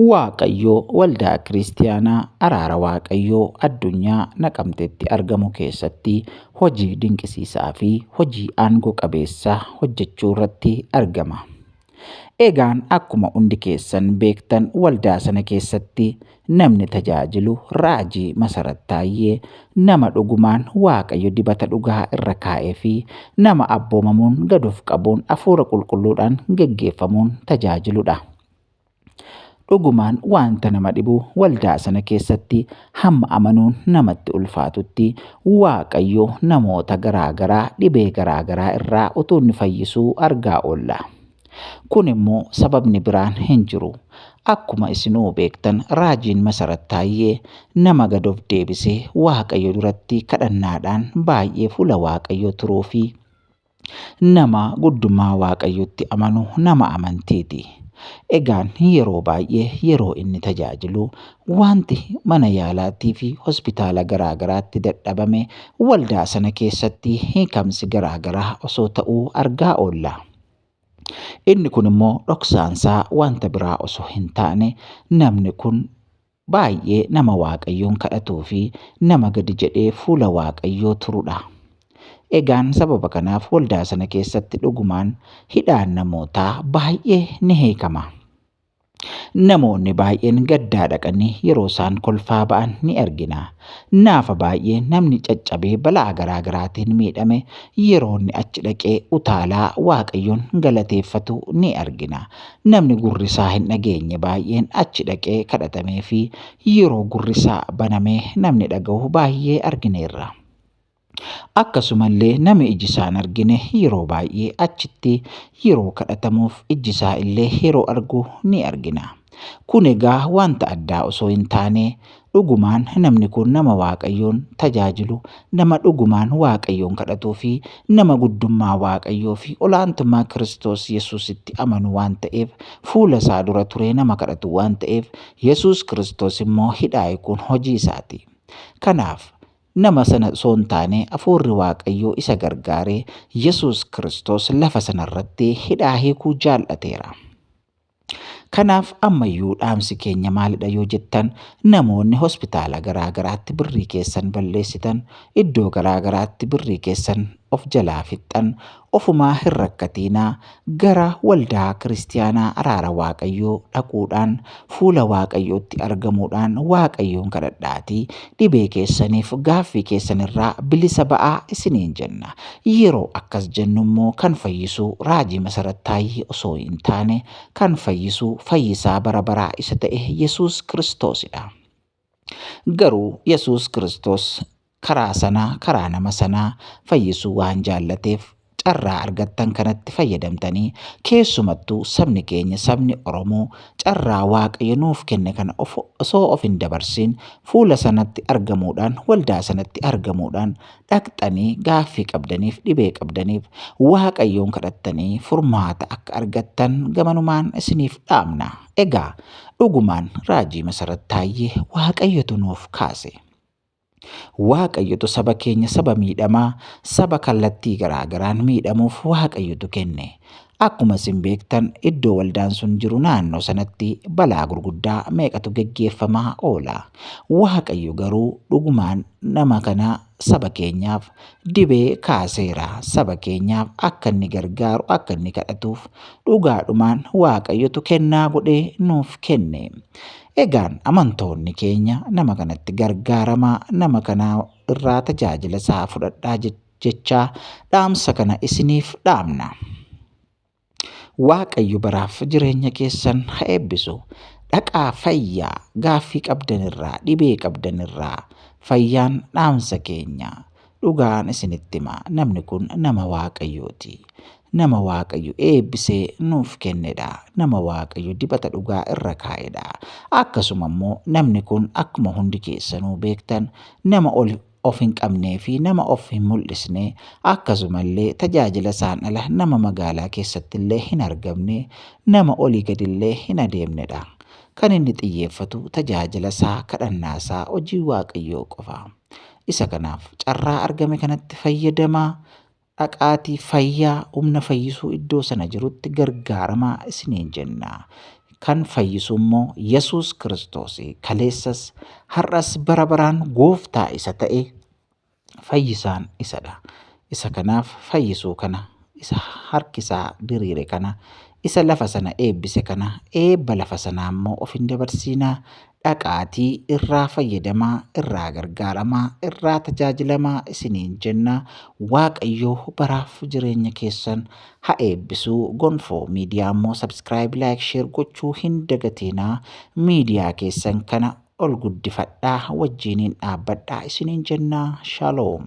Waaqayyoo waldaa kiristiyaanaa araara waaqayyoo addunyaa naqamtetti argamu keessatti hojii dinqisiisaa fi hojii aangoo qabeessa hojjechuu irratti argama. Egaan akkuma hundi keessan beektan waldaa sana keessatti Namni tajaajilu Raajii Masarat Taayyee nama dhugumaan Waaqayyo dibata dhugaa irra kaa'ee fi nama abboomamuun gad of qabuun Hafuura Qulqulluudhaan geggeeffamuun tajaajiludha. Dhugumaan wanta nama dhibu waldaa sana keessatti hamma amanuun namatti ulfaatutti Waaqayyo namoota garaa garaa dhibee garaa garaa irraa utuu inni fayyisuu argaa oolla. Kun immoo sababni biraan hin jiru. Akkuma isinuu beektan raajiin Masarat Taayyee nama gad of deebisee Waaqayyo duratti kadhannaadhaan baay'ee fuula Waaqayyoo turuu fi nama guddummaa Waaqayyootti amanu nama amantiiti. Egaan yeroo baay'ee yeroo inni tajaajilu wanti mana yaalaatii fi hospitaala garaa garaatti dadhabame waldaa sana keessatti hiikamsi garaa garaa osoo ta'uu argaa oolla. Inni kun immoo dhoksaansaa wanta biraa osoo hin taane namni kun baay'ee nama Waaqayyoon kadhatuu fi nama gadi jedhee fuula Waaqayyoo turudha. Egaan sababa kanaaf waldaa sana keessatti dhugumaan hidhaan namootaa baay'ee ni hiikama. Namoonni baay'een gaddaa dhaqanii yeroo isaan kolfaa ba'an ni argina. Naafa baay'ee namni caccabee balaa garaa garaatiin miidhame yeroo inni achi dhaqee utaalaa Waaqayyoon galateeffatu ni argina. Namni gurri isaa hin dhageenye baay'een achi dhaqee kadhatamee fi yeroo gurri isaa banamee namni dhaga'u baay'ee argineerra. Akkasumallee nami iji isaa hin argine yeroo baay'ee achitti yeroo kadhatamuuf ijji isaa illee yeroo argu ni argina. Kun egaa wanta addaa osoo hin taane dhugumaan namni kun nama Waaqayyoon tajaajilu, nama dhugumaan Waaqayyoon kadhatuu fi nama guddummaa Waaqayyoo fi olaantummaa Kiristoos Yesuusitti amanu waan ta'eef fuula isaa dura turee nama kadhatu waan ta'eef Yesuus Kiristoos immoo hidhaa'e kun hojii isaati. Kanaaf Nama sana osoo hin taane Hafuurri Waaqayyoo isa gargaare Yesuus Kiristoos lafa sana irratti hidhaa hiikuu jaal'ateera. Kanaaf ammayyuu dhaamsi keenya maalidha yoo jettan namoonni hospitaala garaa garaatti birrii keessan balleessitan, iddoo garaa garaatti birrii keessan of jalaa fixxan, Ofumaa hin rakkatiinaa gara waldaa kiristiyaanaa araara Waaqayyoo dhaquudhaan fuula Waaqayyootti argamuudhaan Waaqayyoon kadhadhaatii dhibee keessaniif gaaffii keessan irraa bilisa ba'aa isiniin jenna. Yeroo akkas jennu immoo kan fayyisu Raajii Masarat Taayyee osoo hin taane kan fayyisu fayyisaa bara baraa isa ta'e Yesuus Kiristoosidha. Garuu Yesuus Kiristoos karaa sana karaa nama sanaa fayyisuu waan jaallateef carraa argattan kanatti fayyadamtanii keessumattuu sabni keenya sabni Oromoo carraa Waaqayyo nuuf kenne kana osoo of hin dabarsiin fuula sanatti argamuudhaan waldaa sanatti argamuudhaan dhaqxanii gaaffii qabdaniif dhibee qabdaniif waaqayyoon kadhattanii furmaata akka argattan gamanumaan isiniif dhaamna. Egaa dhugumaan raajii Masarat Taayyee waaqayyotu nuuf kaase. Waaqayyotu saba keenya saba miidhamaa saba kallattii garaagaraan miidhamuuf waaqayyotu kenne. Akkuma isin beektan iddoo waldaan sun jiru naannoo sanatti balaa gurguddaa meeqatu geggeeffamaa oola. Waaqayyo garuu dhugumaan nama kana saba keenyaaf dibee kaaseera. Saba keenyaaf akka inni gargaaru akka inni kadhatuuf dhugaadhumaan Waaqayyotu kennaa godhee nuuf kenne. Egaan amantoonni keenya nama kanatti gargaaramaa nama kana irraa tajaajila isaa fudhadhaa jechuudha. jechaa dhaamsa kana isiniif dhaamna. Waaqayyo baraaf jireenya keessan ha eebbisu. Dhaqaa fayyaa gaaffii qabdan irraa dhibee qabdan irraa fayyaan dhaamsa keenya. Dhugaan isinitti hima namni kun nama waaqayyooti. Nama waaqayyo eebbisee nuuf kennedha. Nama waaqayyo dibata dhugaa irra kaa'edha. Akkasuma immoo namni kun akkuma hundi keessanuu beektan nama ol of hin qabnee fi nama of hin mul'isne, akkasumallee tajaajila isaan ala nama magaalaa keessatti illee hin argamne, nama olii gadi illee hin adeemne dha. Kan inni xiyyeeffatu tajaajila isaa, kadhannaa isaa, hojii Waaqayyoo qofa. Isa kanaaf carraa argame kanatti fayyadamaa? Dhaqaatii fayyaa humna fayyisuu iddoo sana jirutti gargaaramaa isiniin jenna. Kan fayyisu immoo Yesuus Kiristoos kaleessas, har'as, bara baraan gooftaa isa ta'e fayyisaan isadha. Isa kanaaf fayyisuu kana, isa harkisaa diriire kana, isa lafa sana eebbise kana, eebba lafa sanaa immoo of hin dabarsiinaa, dhaqaatii irraa fayyadamaa, irraa gargaaramaa, irraa tajaajilamaa isiniin jenna. Waaqayyo baraaf jireenya keessan ha eebbisu. Gonfoo miidiyaa immoo subscribe, like, share gochuu hin dagatiinaa. Miidiyaa keessan kana ol guddifadhaa, wajjiiniin dhaabbadhaa isiniin jenna. Shalom.